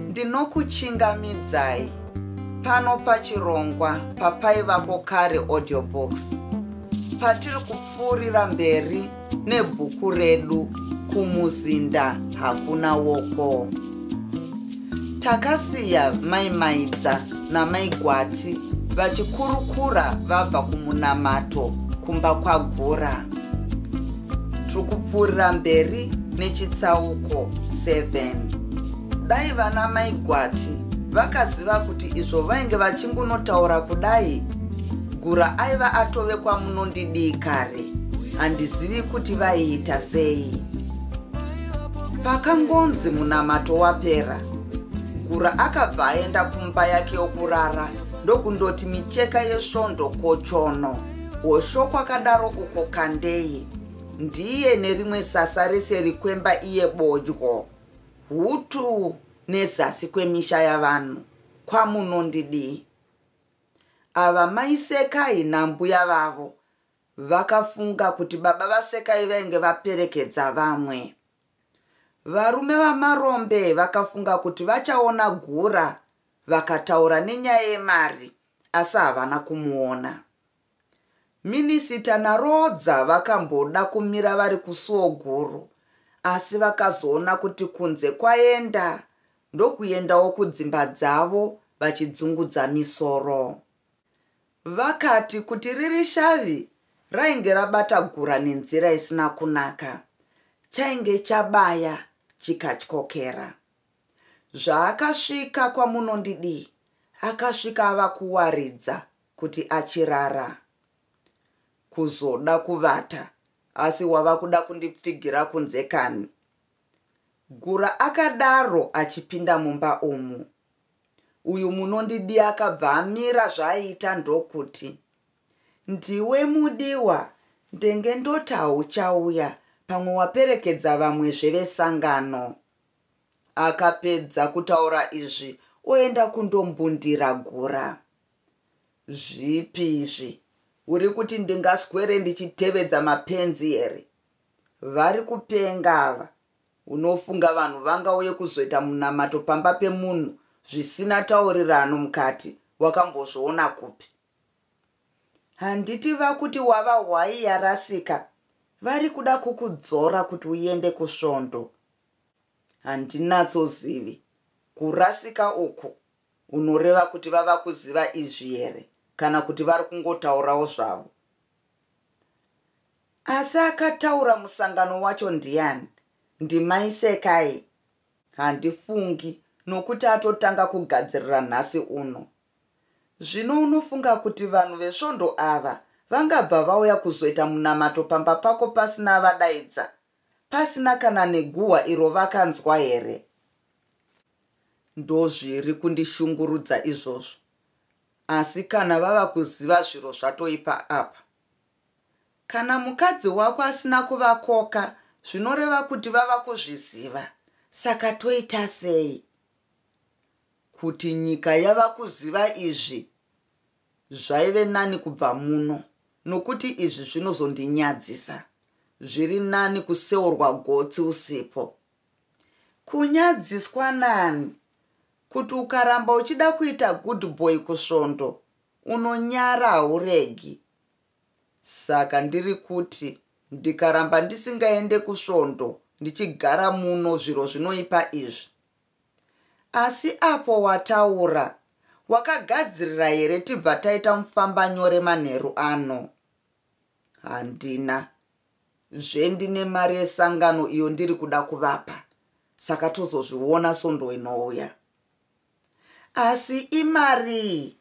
Ndinokuchingamidzai pano pachirongwa papaivako kare audiobooks patiri kupfuurira mberi nebhuku redu kumuzinda hakuna woko takasiya mai maidza namai gwati vachikurukura vabva kumunamato kumba kwagura tiri kupfuurira mberi nechitsauko 7 dai vana mai gwati vakaziva kuti izvo vainge vachingunotaura kudai gura aiva atove kwamunondidii kare handizivi kuti vaiita sei pakangonzi munamato wapera gura akabva aenda kumba yake yokurara ndokundoti micheka yesvondo kochono Hosho kwakadaro uko kandei. Ndiye nerimwe sasa rese rikwemba iye bodyo. Hutu nezasi kwemisha yavanhu. Kwamunondidii. Ava maisekai nambuya vavo. Vakafunga kuti baba vasekai vainge vaperekedza vamwe. Varume vamarombe vakafunga kuti vachaona gura vakataura nenyaya yemari asi havana kumuona minisita narodza vakamboda kumira vari kusuwo guru asi vakazoona kuti kunze kwaenda ndokuendawo kudzimba dzavo vachidzungudza misoro vakati kuti riri shavi rainge rabata gura nenzira isina kunaka chainge chabaya chikatyokera Zvaakasvika kwaMunondidii akasvika ava kuwaridza kuti achirara kuzoda kuvata asi wava kuda kundipfigira kunze kani gura akadaro achipinda mumba umu uyu munondidi akabva amira zvaaiita ndokuti ndiwe mudiwa ndenge ndoti hauchauya pamwe waperekedza vamwe zvevesangano akapedza kutaura izvi oenda kundombundira gura zvipi izvi uri kuti ndingaswere ndichitevedza mapenzi here vari kupenga ava unofunga vanhu vangauye kuzoita munamato pamba pemunhu zvisina taurirano mukati wakambozviona kupi handiti vakuti wava hwai yarasika vari kuda kukudzora kuti uende kusvondo handinatsozivi kurasika uku unoreva kuti vava kuziva izvi here kana kuti vari kungotaurawo zvavo asi akataura musangano wacho ndiani ndimaisekai handifungi nokuti atotanga kugadzirira nhasi uno Zvino unofunga kuti vanhu vesvondo ava vangabva vauya kuzoita munamato pamba pako pasina avadaidza, pasina kana neguhwa iro vakanzwa here? Ndozviri kundishungurudza izvozvo. Asi kana vava kuziva zviro zvatoipa apa. Kana mukadzi wako asina kuvakoka zvinoreva kuti vava kuzviziva, saka toita sei? Kuti nyika yava kuziva izvi zvaive nani kubva muno nokuti izvi zvinozondinyadzisa. Zviri nani kuseurwa gotsi usipo. Kunyadziswa nani? Kuti ukaramba uchida kuita good boy kusvondo unonyara hauregi. Saka ndiri kuti ndikaramba ndisingaende kusvondo ndichigara muno zviro zvinoipa izvi Asi apo wataura, wakagadzirira here tibva taita mufamba nyore manheru ano? Handina. Zve ndine mari yesangano iyo ndiri kuda kuvapa. Saka tozozviona sondo inouya. Asi imarii?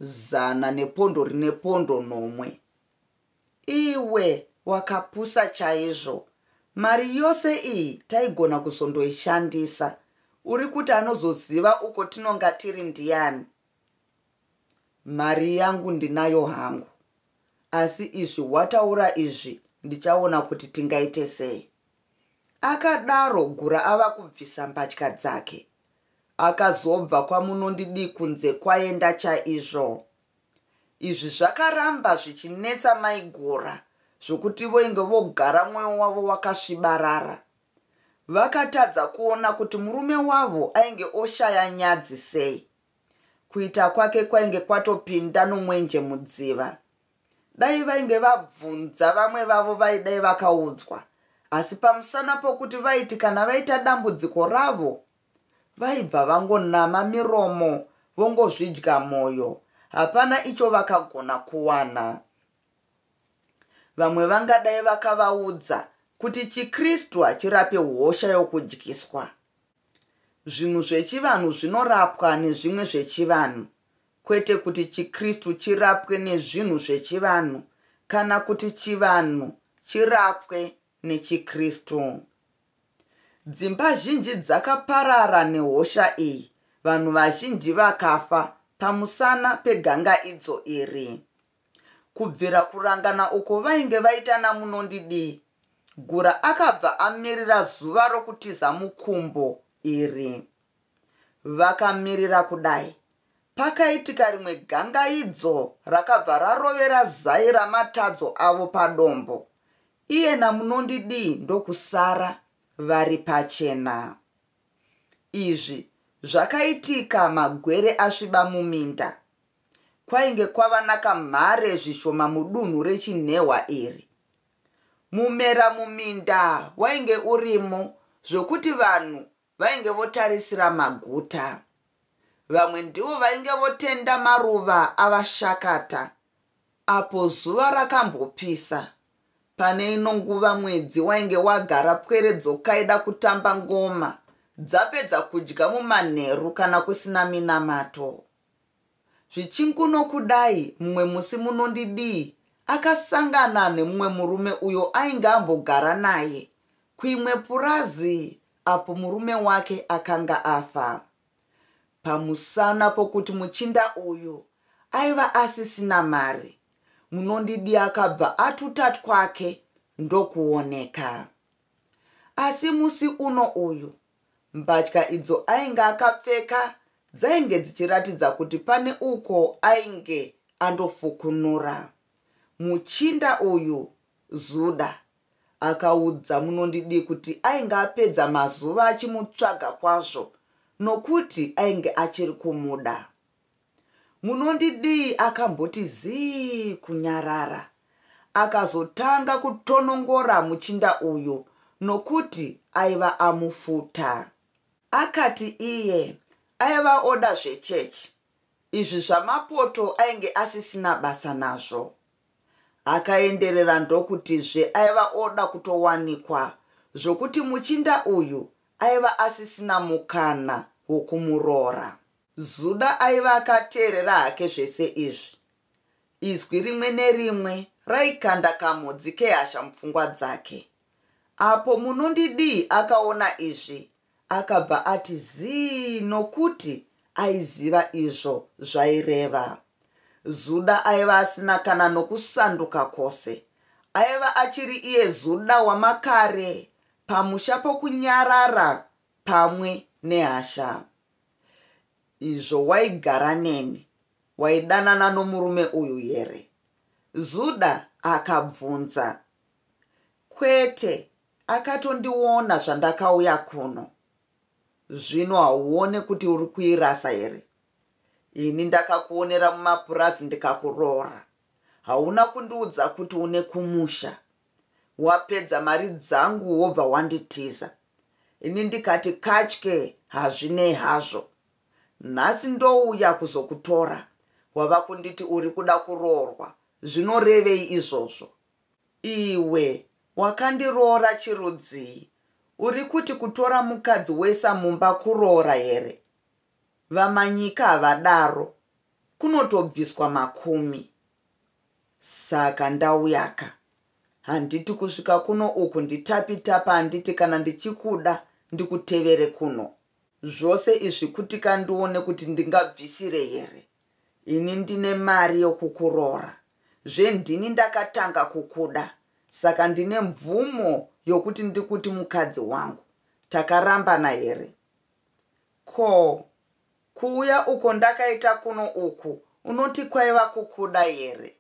Zana nepondo rine pondo nomwe. Iwe wakapusa chaizvo. Mari yose iyi taigona kuzondoishandisa. Uri kuti anozoziva uko tinonga tiri ndiyani? Mari yangu ndinayo hangu. Asi izvi wataura izvi ndichaona kuti tingaite sei. Akadaro Gura ava kubvisa mbatya dzake. Akazobva kwamunondidii kunze kwaenda chaizvo. Izvi zvakaramba zvichinetsa mai Gora zvokuti voinge vogara mwoyo wavo wakasvibarara. Vakatadza kuona kuti murume wavo ainge oshaya nyadzi sei. Kuita kwake kwainge kwatopinda nomwenje mudziva. Dai vainge vabvunza vamwe vavo vaidai vakaudzwa asi pamusana pokuti vaiti kana vaita dambudziko ravo Vaibva vangonama miromo vongozvidya moyo. Hapana icho vakagona kuwana. Vamwe vangadai vakavaudza kuti chiKristu hachirape hosha yokudyiswa. Zvinhu zvechivanhu zvinorapwa nezvimwe zvechivanhu, kwete kuti chiKristu chirapwe nezvinhu zvechivanhu kana kuti chivanhu chirapwe nechiKristu. Dzimba zhinji dzakaparara nehosha iyi, vanhu vazhinji vakafa pamusana pegangaidzo iri. Kubvira kurangana uko vainge vaita naMunondidii, Gura akabva amirira zuva rokutiza mukumbo iri. Vakamirira kudai, pakaitika rimwe gangaidzo rakabva rarovera zai ramatadzo avo padombo. Iyena munondidii ndokusara vari pachena. Izvi zvakaitika magwere asviba muminda. Kwainge kwava nakamhare zvishoma mudunhu rechinhehwa iri. Mumera muminda wainge urimo zvokuti vanhu vainge votarisira maguta vamwe ndivo vainge votenda maruva avashakata apo zuva rakambopisa pane ino nguva mwedzi wainge wagara pwere dzokaida kutamba ngoma dzapedza kudya mumanheru kana kusina minamato zvichinguno kudai mumwe musi munondidii akasangana nemumwe murume uyo ainge ambogara naye kuimwe purazi apo murume wake akanga afa. Pamusana pokuti muchinda uyu aiva asisina mari, munondidi akabva atuta twake ndokuoneka. Asi musi uno uyu, mbatya idzo ainge akapfeka dzainge dzichiratidza kuti pane uko ainge andofukunura. Muchinda uyu, Zuda, akaudza munondidii kuti ainge apedza mazuva achimutsvaga kwazvo nokuti ainge achiri kumuda munondidii akamboti zii kunyarara akazotanga kutonongora muchinda uyu nokuti aiva amufuta akati iye aiva oda zvechechi Izvi zvamapoto ainge asisina basa nazvo. Akaenderera ndokutizve aiva oda kutowanikwa zvokuti muchinda uyu aiva asisina mukana wokumuroora. Zuda aiva akateerera hake zvese izvi. Izwi rimwe nerimwe raikanda kamhodzi kehasha mupfungwa dzake. Apo Munondidii akaona izvi, akabva ati zii nokuti aiziva izvo zvaireva. Zuda aiva asina kana nokusanduka kwose. Aiva achiri iye Zuda wamakare pamusha pokunyarara pamwe nehasha. Izvo waigara neni waidanana nomurume uyu here? Zuda akabvunza. Kwete, akatondiona zvandakauya kuno. Zvino hauone kuti uri kuirasa here? Ini ndakakuonera mumapurazi ndikakuroora. Hauna kundiudza kuti une kumusha. Wapedza mari dzangu wobva wanditiza. Ini ndikati katye hazvinei hazvo. Nhasi ndouya kuzokutora. Wava kunditi uri kuda kuroorwa. Zvinorevei izvozvo? Iwe wakandiroora chirudzii? Uri kuti kutora mukadzi wesa mumba kuroora here? VaManyika havadaro, kunotobviswa makumi. Saka ndauyaka. Handiti kusvika kuno uku nditapi tapa handiti kana ndichikuda ndikutevere kuno. zvose izvi kutika ndione kuti ndingabvisire here ini ndine mari yokukuroora zve ndini ndakatanga kukuda saka ndine mvumo yokuti ndikuti mukadzi wangu takarambana here ko kuuya uko ndakaita kuno uku unoti kwaiva kukuda here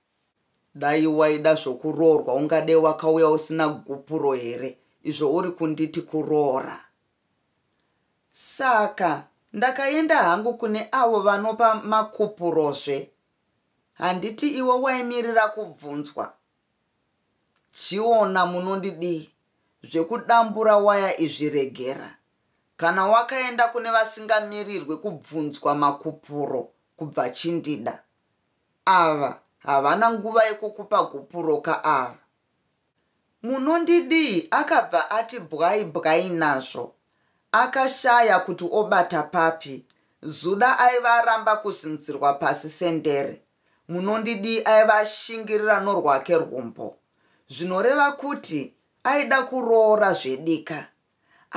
dai waida zvokuroorwa ungade wakauya usina gupuro here izvo uri kunditi kuroora Saka ndakaenda hangu kune avo vanopa makupurozve. Handiti iwe waimirira kubvunzwa? Chiona munondidii? Zvekudambura waya izvi regera. Kana wakaenda kune vasingamirirwe kubvunzwa makupuro kubva chindida. Ava havana nguva yekukupa gupuro ka ava. Munondidii akabva ati bwai bwai nazvo akashaya kuti obata papi Zuda aiva aramba kuzinzirwa pasi sendere Munondidii aiva ashingirira norwake rwumbo zvinoreva kuti aida kuroora zvedika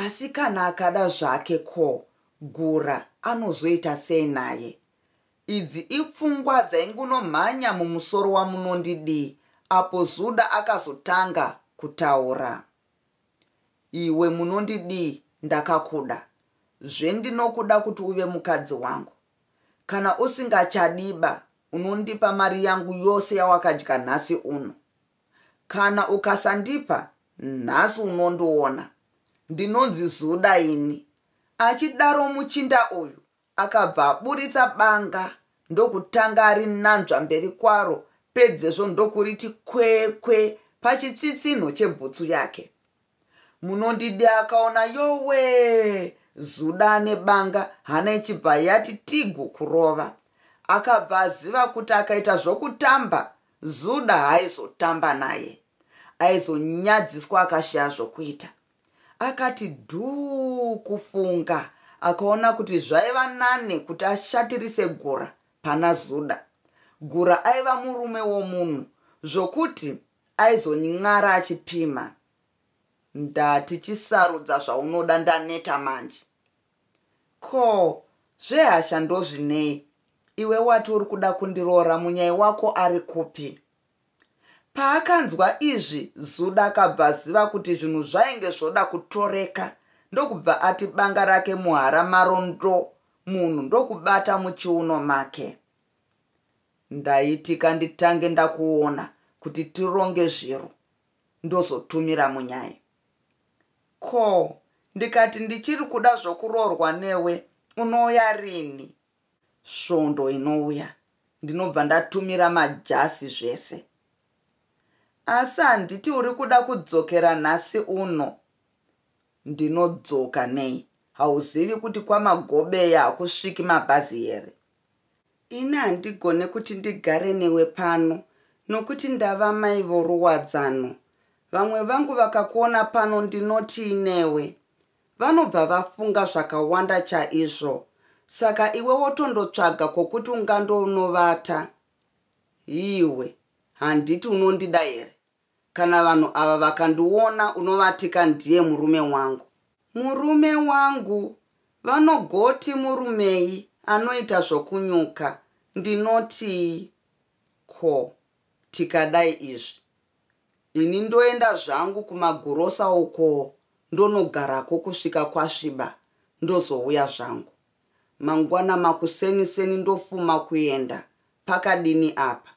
asi kana akada zvake ko Gura anozoita sei naye Idzi ipfungwa dzaingunomhanya mumusoro waMunondidii apo Zuda akazotanga kutaura. Iwe Munondidii ndakakuda zve ndinokuda kuti uve mukadzi wangu. Kana usingachadiba unondipa mari yangu yose yawakadya nhasi uno. Kana ukasandipa nhasi unondiona. Ndinonzi Zuda ini. Achidaro muchinda uyu Akabva aburitsa banga ndokutanga arinanzva mberi kwaro pedzezvo ndokuriti kwekwe pachitsitsinho chebhutsu yake. Munondidi akaona yowe zuda ane banga hana ichibva yati tigu kurova. Akabva aziva kuti akaita zvokutamba zuda haizotamba naye. Aizonyadziswa akashaya zvokuita. Akati dhuu kufunga akaona kuti zvaiva nane kuti ashatirise Gura pana Zuda. Gura aiva murume womunhu zvokuti aizonyin'ara achipima. Ndati chisarudza zvaunoda ndaneta manje. Ko zvehasha ndozvinei? Iwe wati uri kuda kundiroora munyai wako ari kupi? Paakanzwa izvi Zuda akabva aziva kuti zvinhu zvainge zvoda kutoreka ndokubva ati banga rake muhara maro ndo munhu ndokubata muchiuno make. Ndaitika nditange ndakuona kuti tironge zviro ndozotumira munyai. Ko ndikati ndichiri kuda zvokuroorwa newe unouya rini? svondo inouya ndinobva ndatumira majasi zvese asi handiti uri kuda kudzokera nhasi uno ndinodzoka nei hauzivi kuti kwamagobeya hakusviki mabhazi here ini handigone kuti ndigare newe pano nokuti ndava mai voruwadzano vamwe vangu vakakuona pano ndinotii newe Vanobva vafunga zvakawanda chaizvo saka iwe wotondotsvaga kwokuti ungandoonovata. Iwe handiti unondida here? Kana vanhu ava vakandiona unovatika ndiye murume wangu. Murume wangu? Vanogoti murumei anoita zvokunyuka? Ndinotii? Ko. Tikadai izvi ini ndoenda zvangu kumagurosa ukoo ndonogarako kusvika kwasviba ndozouya zvangu mangwana makuseni seni ndofuma kuenda pakadini apa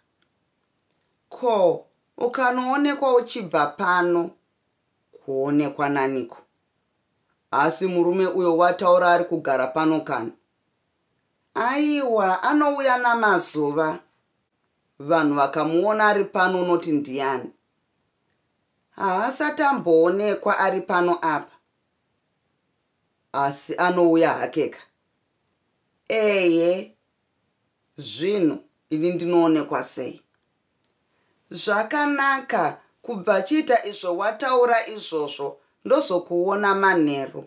ko ukanoonekwa uchibva pano kuonekwa naniko asi murume uyo wataura ari kugara pano kana aiwa anouya namazuva Vanhu vakamuona ari pano unoti ndiyani? Haasati amboonekwa ari pano apa. Asi anouya hakeka. Eye, zvino ini ndinoonekwa sei? Zvakanaka, kubva chiita izvo wataura izvozvo, ndozokuona manheru.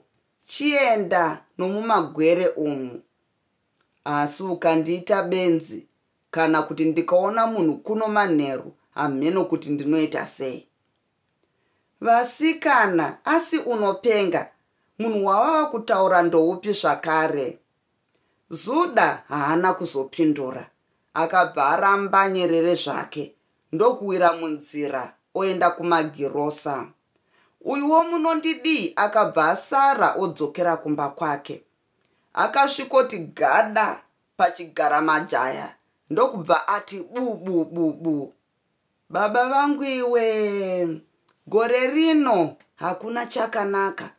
Chienda nomumagwere umu. Asi ukandiita benzi, kana kuti ndikaona munhu kuno manheru hamheno kuti ndinoita sei vasikana asi unopenga munhu wawava kutaura ndoupi zvakare zuda haana kuzopindura akabva aramba nyerere zvake ndokuwira munzira oenda kumagirosa uyuwo munondidii akabva asara odzokera kumba kwake akasvikoti gada pachigara majaya ndokubva ati bubububu baba vangu iwe gore rino hakuna chakanaka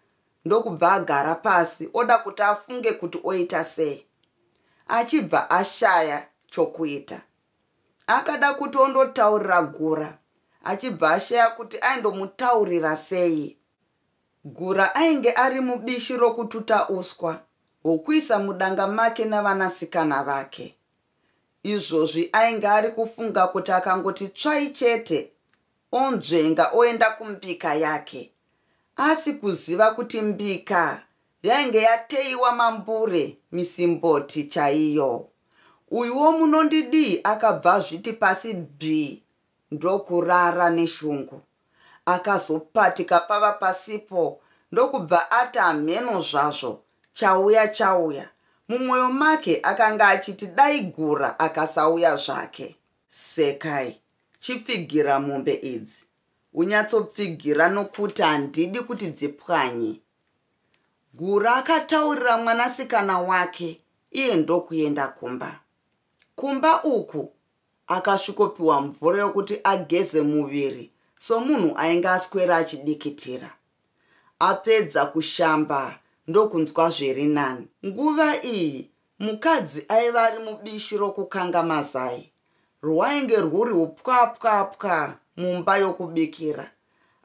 ndokubva agara pasi oda kuti afunge kuti oita sei achibva ashaya chokuita akada kuti ondotaurira gura achibva ashaya kuti aindomutaurira sei Gura ainge ari mubishi rokututa uswa hwokuisa mudanga make navanasikana vake. Izvozvi ainge ari kufunga kuti akangoti tsvai chete onzvenga oenda kumbika yake, asi kuziva kuti mbika yainge yateiwa mambure misimboti chaiyo. Uyuwo munondidii akabva azviti pasi bvi ndokurara neshungu. Akazopatika pava pasipo ndokubva ati hamheno zvazvo chauya chauya. Mumwoyo make akanga achiti dai Gura akasauya zvake. Sekai, chipfigira mombe idzi. Unyatsopfigira nokuti handidi kuti dzipwanye. Gura akataurira mwanasikana wake iye ndokuenda kumba. Kumba uku Akasvikopiwa mvura yokuti ageze muviri somunhu ainge aswera achidikitira. Apedza kushamba ndokunzwa zviri nani. Nguva iyi mukadzi aiva ari mubishi rokukanga mazai rwainge rwuri upwapwapwa mumba yokubikira.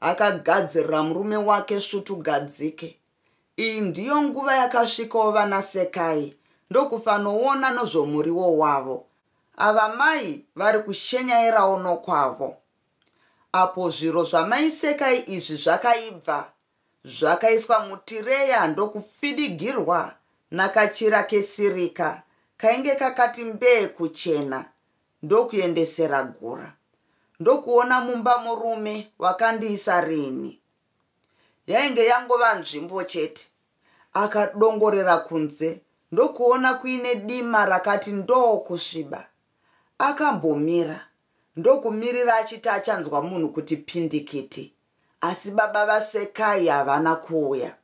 Akagadzirira murume wake svutugadzike Iyi ndiyo nguva yakasvikawo vana Sekai ndokufanoona nozvomuriwo wavo. Ava mai vari kushenyairawo nokwavo. Apo zviro zvamai Sekai izvi zvakaibva zvakaiswa mutireya ndokufidigirwa nakachira kesirika kainge kakati mbee kuchena ndokuendesera Gura. Ndokuona mumba murume wakandiisa rini? yainge yangova nzvimbo chete akadongorera kunze ndokuona kuine dima rakati ndoo kusviba akambomira ndokumirira achiti achanzwa munhu kuti pindikiti asi baba vasekai havana kuuya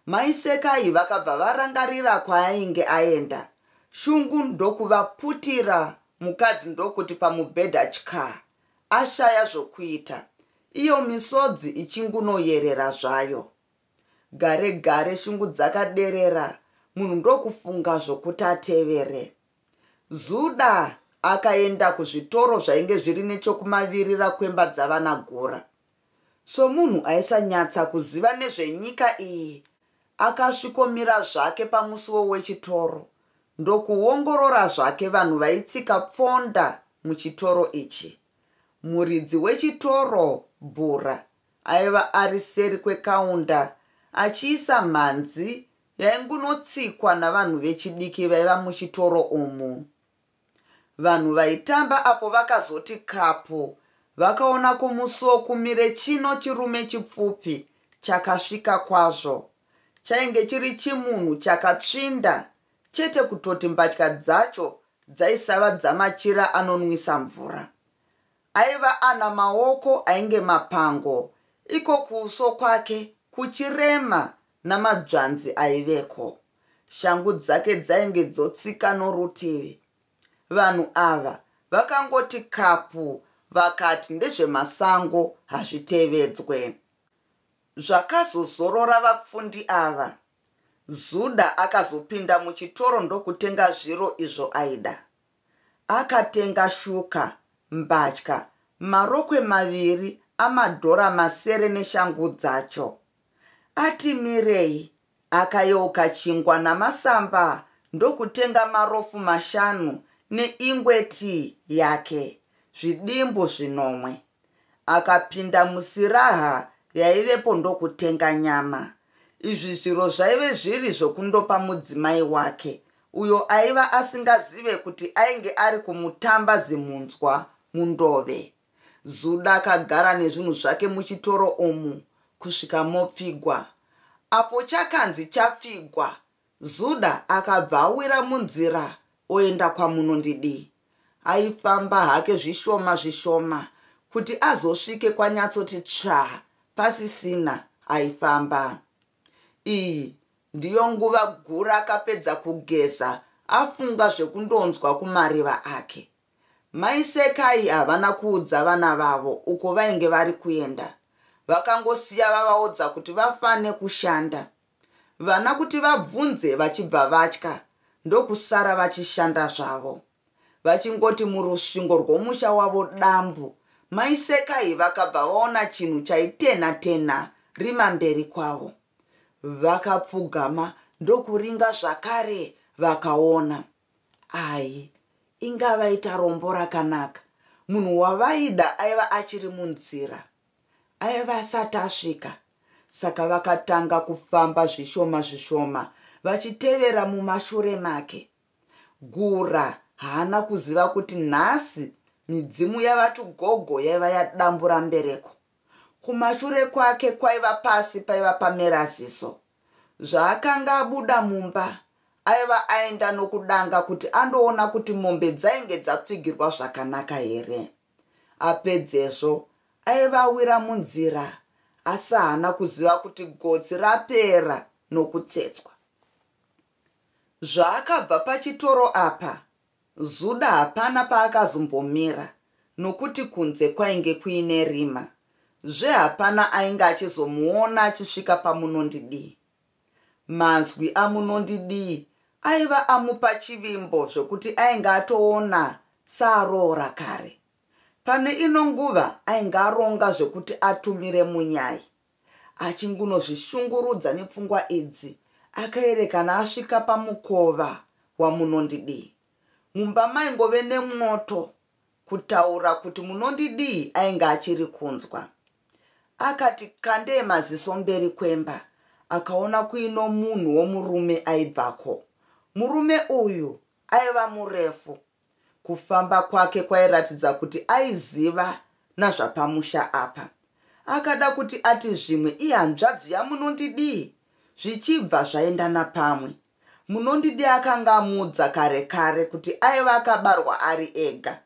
mai sekai vakabva varangarira kwaainge aenda shungu ndokuvaputira mukadzi ndokuti pamubhedha chkaa ashaya zvokuita, iyo misodzi ichingunoyerera zvayo. Gare gare shungu dzakaderera, munhu ndokufunga zvokuti atevere. Zuda akaenda kuzvitoro zvainge zviri nechokumavirira kwemba dzavana Gura. Somunhu aisanyatsa kuziva nezvenyika iyi, Akasvikomira zvake pamusiwo wechitoro ndokuongorora zvake vanhu vaitsika pfonda muchitoro ichi. Muridzi wechitoro, Bhura, aiva ari seri kwekaunda achiisa mhanzi yaingunotsikwa navanhu vechidiki vaiva muchitoro umu. Vanhu vaitamba apo vakazoti kapu vakaona kumusuwo kumire chino chirume chipfupi chakasvika kwazvo. Chainge chiri chimunhu chakatsvinda chete kutoti mbatya dzacho dzaisava dzamachira anonwisa mvura. Aiva ana maoko ainge mapango iko kuuso kwake kuchirema namadzvanzi aiveko. shangu dzake dzainge dzotsika norutivi vanhu ava vakangoti kapu vakati ndezvemasango hazvitevedzwe zvakazozorora vapfundi ava zuda akazopinda muchitoro ndokutenga zviro izvo aida akatenga shuka mbatya marokwe maviri amadhora masere neshangu dzacho ati mirei Akayeuka chingwa namasamba ndokutenga marofu mashanu neingwe tii yake, zvidimbu zvinomwe. Akapinda musiraha yaivepo ndokutenga nyama. Izvi zviro zvaive zviri zvokundopa mudzimai wake, uyo aiva asingazive kuti ainge ari kumutamba zimhunzwa mundove. Zuda akagara nezvinhu zvake muchitoro umu kusvika mopfigwa. Apo chakanzi chapfigwa, Zuda akabva awira munzira oenda kwaMunondidii. Aifamba hake zvishoma zvishoma kuti azosvike kwanyatsoti tsvaa pasisina aifamba. Iyi ndiyo nguva Gura akapedza kugeza afunga zvekundonzwa kumariva ake. Mai Sekai havana kuudza vana vavo uko vainge vari kuenda. Vakangosiya vavaudza kuti vafane kushanda. Vana kuti vabvunze vachibva vatya ndokusara vachishanda zvavo. Vachingoti murusvingo rwomusha wavo dambu, Mai Sekai vakabva vaona chinhu chaitenha tenha rima mberi kwavo. Vakapfugama ndokuringa zvakare vakaona. ayi inga vaita rombo rakanaka munhu wavaida aiva achiri munzira aiva asati asvika saka vakatanga kufamba zvishoma zvishoma vachitevera mumashure make gura haana kuziva kuti nhasi midzimu yavati gogo yaiva yadambura mbereko Kumashure kwake kwaiva pasi paiva pamera ziso. Zvaakanga abuda mumba, aiva aenda nokudanga kuti andoona kuti mombe dzainge dzapfigirwa zvakanaka here. Apedzezvo, aiva awira munzira, asi haana kuziva kuti gotsi rapera nokutsetswa. Zvaakabva pachitoro apa, Zuda hapana paakazombomira nokuti kunze kwainge kuine rima zve hapana ainge achizomuona achisvika paMunondidii. Manzwi aMunondidii aiva amupa chivimbo zvokuti ainge atoona saaroora kare. Pane ino nguva ainge aronga zvokuti atumire Munyai. achingunozvishungurudza nepfungwa idzi akaerekana asvika pamukova wamunondidii mumba maingove nemwoto kutaura kuti munondidii ainge achiri kunzwa akati kandee maziso mberi kwemba akaona kuino munhu womurume aibvako murume uyu aiva murefu kufamba kwake kwairatidza kuti aiziva nazvapamusha apa akada kuti ati zvimwe ihanzvadzi yamunondidii zvichibva zvaendana pamwe munondidi akanga amuudza kare kare kuti aiva akabarwa ari ega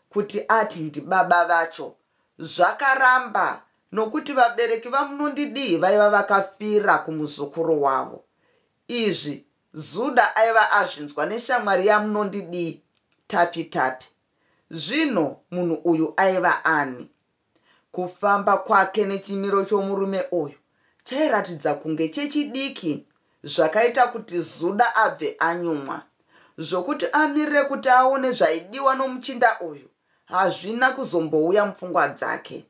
kuti ati ndibaba vacho zvakaramba nokuti vabereki vamunondidii vaiva vakafira kumuzukuru wavo izvi Zuda aiva azvinzwa neshamwari yaMunondidii Tapi Tapi. Zvino munhu uyu aiva ani? Kufamba kwake nechimiro chomurume uyu chairatidza kunge chechidiki zvakaita kuti Zuda abve anyumwa. Zvokuti amirire kuti aone zvaidiwa nomuchinda uyu hazvina kuzombouya mupfungwa dzake.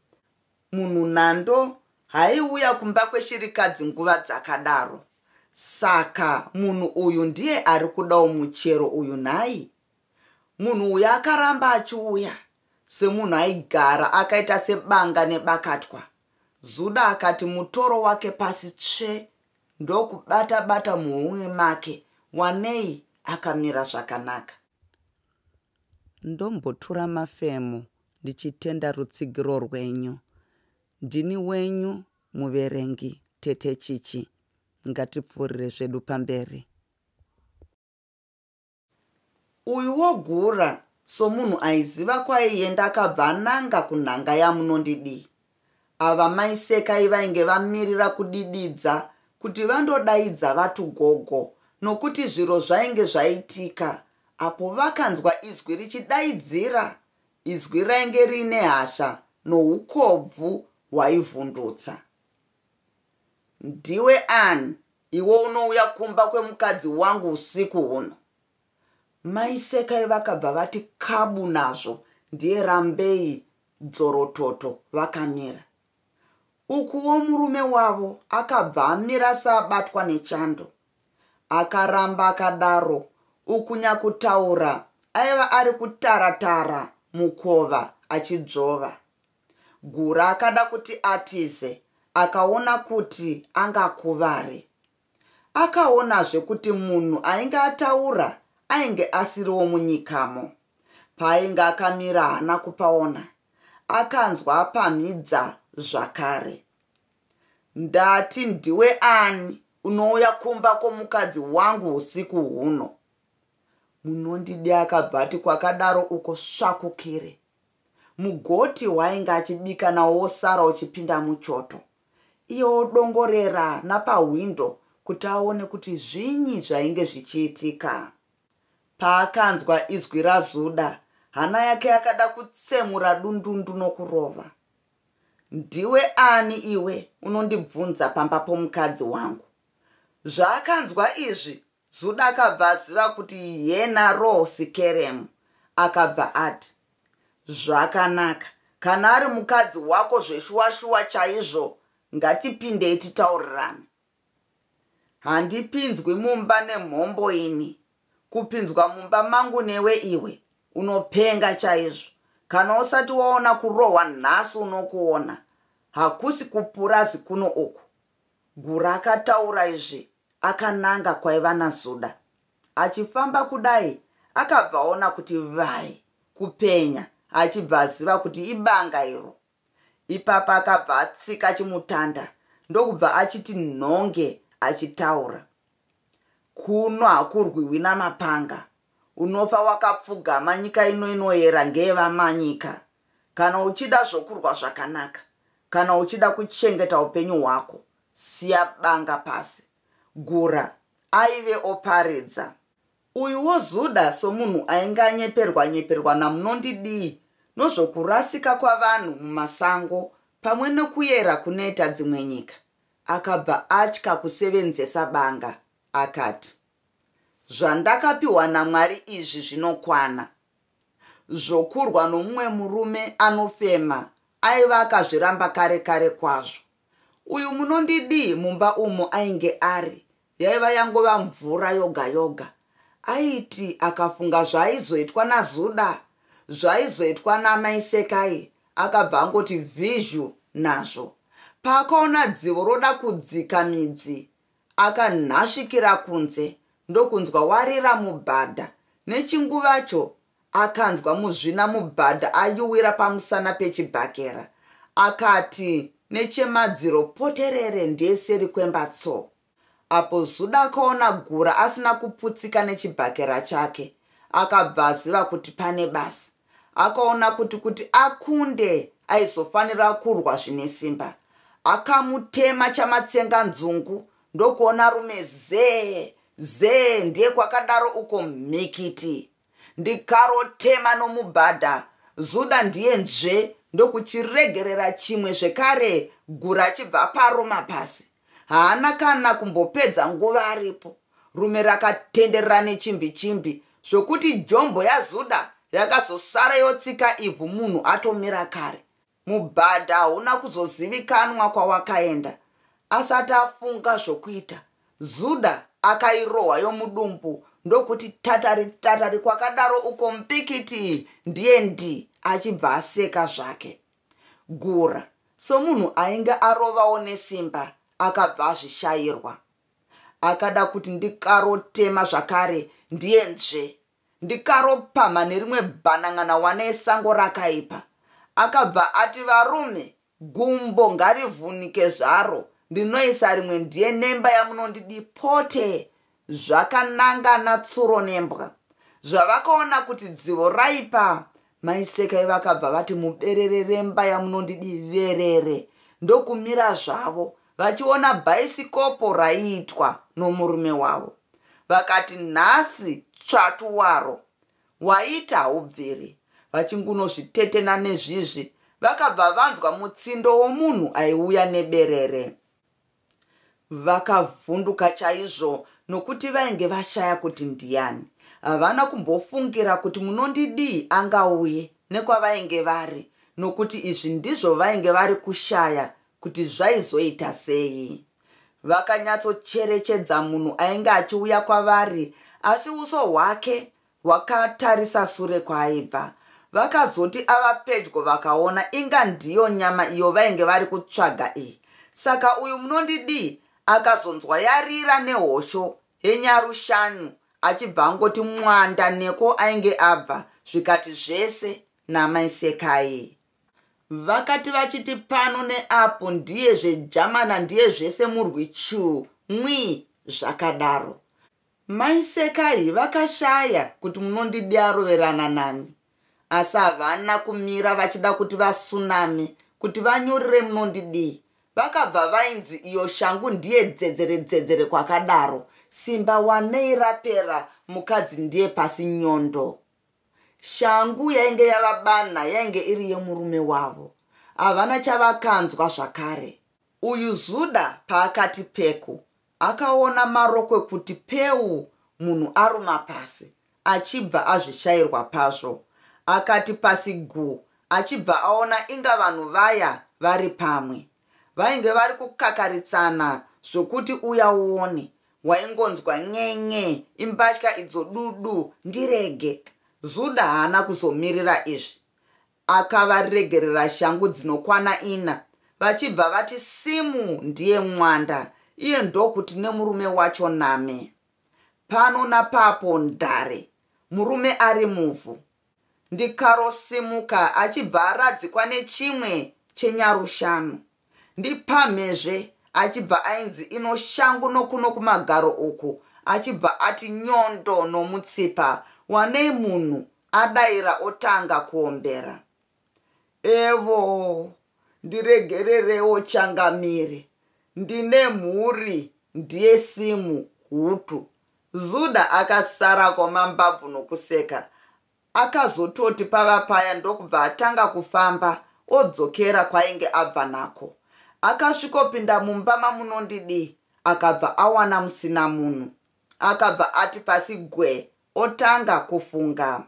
Munhu nhando haiuya kumba kweshirikadzi nguva dzakadaro. Saka munhu uyu ndiye ari kudawo muchero uyu nhai? Munhu uyu akaramba achiuya semunhu aigara akaita sebanga nebakatwa. Zuda akati mutoro wake pasi tsve ndokubata bata muhomwe make wanei akamira zvakanaka. Ndombotura mafemo ndichitenda rutsigiro rwenyu. Ndini wenyu muverengi Tete Chichi. Ngatipfuurire zvedu pamberi. Uyu wogura somunhu aiziva kwaienda akabva ananga kunhanga yamunondidii. Ava mai Sekai vainge vamirira kudididza kuti vandodaidza vatu gogo nokuti zviro zvainge zvaitika apo vakanzwa izwi richidaidzira izwi rainge riine hasha noukobvu hwaivhundutsa. Ndiwe ani iwe unouya kumba kwemukadzi wangu usiku huno? Mai Sekai vakabva vati kabu nazvo ndiye Rambei dzorototo vakamira ukuwo murume wavo akabva amira saabatwa nechando akaramba akadaro ukunyakutaura aiva ari kutaratara mukova achidzvova gura akada kuti atize akaona kuti angakuvare Akaonazve kuti munhu ainge ataura ainge asiriwo munyikamo. Paainge akamira haana kupaona. Akanzwa apamhidza zvakare. Ndati ndiwe ani unouya kumba kwomukadzi wangu husiku huno? Munondidi akabva ati kwakadaro uko svakukire. Mugoti wainge achibika nawo wosara uchipinda muchoto. iye odongorera napahwindo kuti aone kuti zvinyi zvainge zvichiitika. Paakanzwa izwi raZuda, hana yake yakada kutsemura dundundu nokurova. Ndiwe ani iwe unondibvunza pamba pomukadzi wangu? Zvaakanzwa izvi, Zuda akabva aziva kuti yena Rose Kerem akabva ati zvakanaka kana ari mukadzi wako zveshuwashuwa chaizvo ngatipindei titaurirane handipinzwi mumba nemhombo ini kupinzwa mumba mangu newe iwe unopenga chaizvo kana usati waona kurohwa nhasi unokuona hakusi kupurazi kuno uku Gura akataura izvi akananga kwaiva naZuda. Achifamba kudai akabva aona kuti vai kupenya achibva aziva kuti ibanga iro. Ipapa akabva atsika chimutanda ndokubva achiti nhonge achitaura. Kuno hakurwiwi namapanga. Unofa wakapfugama nyika ino inoyera ngeyevamanyika kana uchida zvokurwa zvakanaka kana uchida kuchengeta upenyu hwako siya banga pasi gura aive oparidza uyu wozuda somunhu ainge anyeperwa nyeperwa namunondidii nozvokurasika kwavanhu mumasango pamwe nokuyera kunoita dzimwe nyika akabva atya kusevenzesa banga akati zvandakapiwa namwari izvi zvinokwana zvokurwa nomumwe murume anofema aiva akazviramba kare kare kwazvo uyu munondidii mumba umo ainge ari yaiva yangova mvura yoga yoga aiti akafunga zvaaizoitwa nazuda zvaizoitwa namaisekai akabva angoti vhizhu nazvo paakaona dzivo roda kudzika midzi akanhasvikira kunze ndokunzwa warira mubhadha nechinguvacho akanzwa muzvina mubhadha ayuwira pamusana pechibhakera akati nechemadziro poterere ndiye seri kwemba tso apo zuda akaona gura asina kuputsika nechibhakera chake akabva aziva kuti pane basa akaona kuti kuti akunde aizofanira kurwa zvine simba akamutema chamatsenga nzungu ndokuona rume zee zee ndiye kwakadaro uko mhikiti ndikarotema nomubhadha zuda ndiye nzve ndokuchiregerera chimwe zvekare gura achibva paroma pasi haana kana kumbopedza nguva aripo rume rakatenderera nechimbi chimbi zvokuti jombo yazuda yakazosara yotsika ivhu munhu atomira kare mubhadha hauna kuzozivikanwa kwawakaenda asati afunga zvokuita zuda akairohwa yomudumbu ndokuti tatari tatari kwakadaro uko mpikiti ndiye ndi achibva aseka zvake Gura somunhu ainge arovawo nesimba akabva azvishairwa. Akada kuti ndikarotema zvakare ndiye nzve. Ndikaropamha nerimwe bhanan'ana wane esango rakaipa. Akabva ati varume gumbo ngarivhunike zvaro ndinoisa rimwe ndiye nemba yamunondidi pote zvakanangana tsuro nembwa zvavakaona kuti dzivo raipa maisekai vakabva vati muberere remba yamunondidiverere ndokumira zvavo vachiona bhaisikopo raiitwa nomurume wavo vakati nhasi tsvatu waro waita haubviri vachingunozvitetena nezvizvi vakabva vanzwa mutsindo womunhu aiuya neberere Vakavhunduka chaizvo nokuti vainge vashaya kuti ndiani. Havana kumbofungira kuti munondidii angauye nekwavainge vari nokuti izvi ndizvo vainge vari kushaya kuti zvaizoita sei. Vakanyatsocherechedza munhu ainge achiuya kwavari asi uso hwake Wakatarisa sure kwaaibva. Vakazoti ava pedyo vakaona inga ndiyo nyama iyo vainge vari kutsvaga iyi. Saka uyu munondidii? Akazonzwa yarira nehosho henyaru shanu achibva angoti mwanda neko ainge abva zvikati zvese namai Sekai. Vakati vachiti pano neapo ndiye zvejamana ndiye zvese murwi chuu mwii zvakadaro. Mai Sekai vakashaya kuti munondidi aroverana nani asi havana kumira vachida kuti vasuname kuti vanyorere munondidii vakabva vainzi iyo shangu ndiye dzedzere dzedzere kwakadaro simba wanei rapera mukadzi ndiye pasi nyondo shangu yainge yavabana yainge iri yemurume wavo havana chavakanzwa zvakare uyu zuda paakati peku Akaona marokwe kuti peu munhu aruma pasi achibva azvishairwa pazvo. Akati pasi gu achibva aona inga vanhu vaya vari pamwe. Vainge vari kukakaritsana zvokuti uya uone. Waingonzwa nyenye imbatya idzo dudu ndirege. Zuda haana kuzomirira izvi. akavaregerera shangu dzinokwana ina vachibva vati simu ndiye mwanda iye ndokuti nemurume wacho name pano napapo ndare murume ari muvhu ndikarosimuka achibva aradzikwa nechimwe chenyarushanu ndipamhezve achibva ainzi ino shangu nokuno kumagaro uku achibva ati nyondo nomutsipa wanei munhu adaira otanga kuombera evo ndiregererewo changamire ndine mhuri ndiye simu hutu zuda akasara kwamambabvu nokuseka akazototi pava paya ndokubva atanga kufamba odzokera kwainge abva nako akasvikopinda mumba mamunondidii akabva awana musina munhu akabva ati pasi gwe otanga kufunga.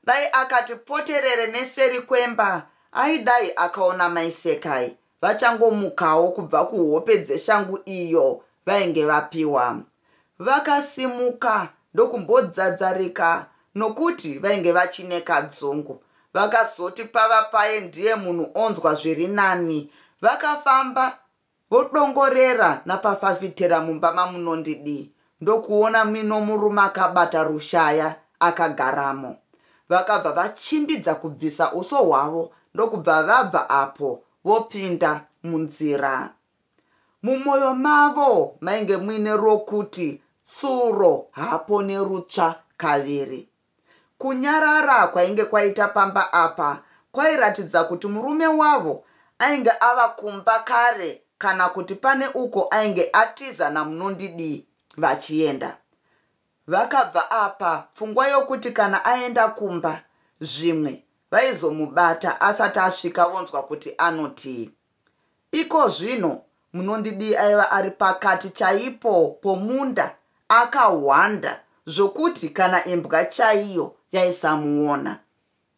Dai akati poterere neseri kwemba aidai akaona mai Sekai vachangomukawo kubva kuhope dzeshangu iyo vainge vapiwa. Vakasimuka ndokumbodzadzarika nokuti vainge vachine kadzungu. Vakazoti pava paye ndiye munhu onzwa zviri nani. Vakafamba Vodongorera napafafitera mumba mamunondidii ndokuona mino murume akabata rushaya akagaramo. Vakabva vachimbidza kubvisa uso hwavo ndokubva vabva apo vopinda munzira. Mumoyo mavo mainge muine rokuti tsuro haapone rutsva kaviri. Kunyarara kwainge kwaita pamba apa kwairatidza kuti murume wavo ainge ava kumba kare kana kuti pane uko ainge atiza naMunondidii vachienda. Vakabva apa pfungwa yokuti kana aenda kumba zvimwe vaizomubata asati asvika vonzwa kuti anotii. Ikozvino munondidii aiva ari pakati chaipo pomunda akahwanda zvokuti kana imbwa chaiyo yaisamuona.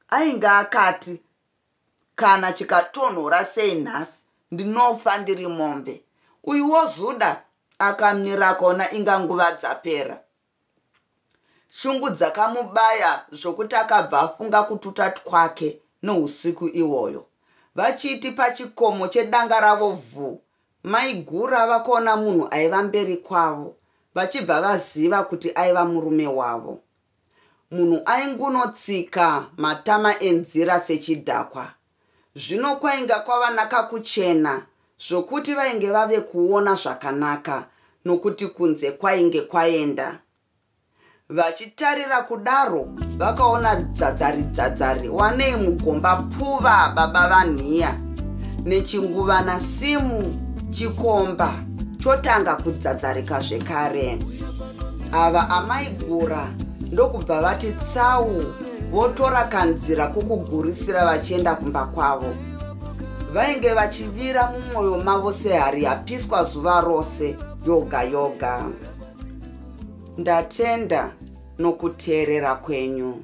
Ainge akati kana chikatonhora sei nhasi ndinofa ndiri mombe. Uyu wozuda akamira kona inga nguva dzapera. shungu dzakamubaya zvokuti akabva afunga kututa twake nousiku iwoyo vachiiti pachikomo chedanga ravo vhu maigura vakaona munhu aiva mberi kwavo vachibva vaziva kuti aiva murume wavo munhu aingunotsika matama enzira sechidhakwa Zvino kwainga kwava nakakuchena zvokuti vainge vave kuona zvakanaka nokuti kunze kwainge kwaenda. Vachitarira kudaro vakaona dzadzari dzadzari wanei mugomba pfuva baba vanhiya nechinguvana simu chikomba chotanga kudzadzarika zvekare. Ava amaigura ndokubva vati tsau votora kanzira kokugurisira vachienda kumba kwavo vainge vachivira mumwoyo mavo sehari yapiswa zuva rose yoga yoga ndatenda nokuteerera kwenyu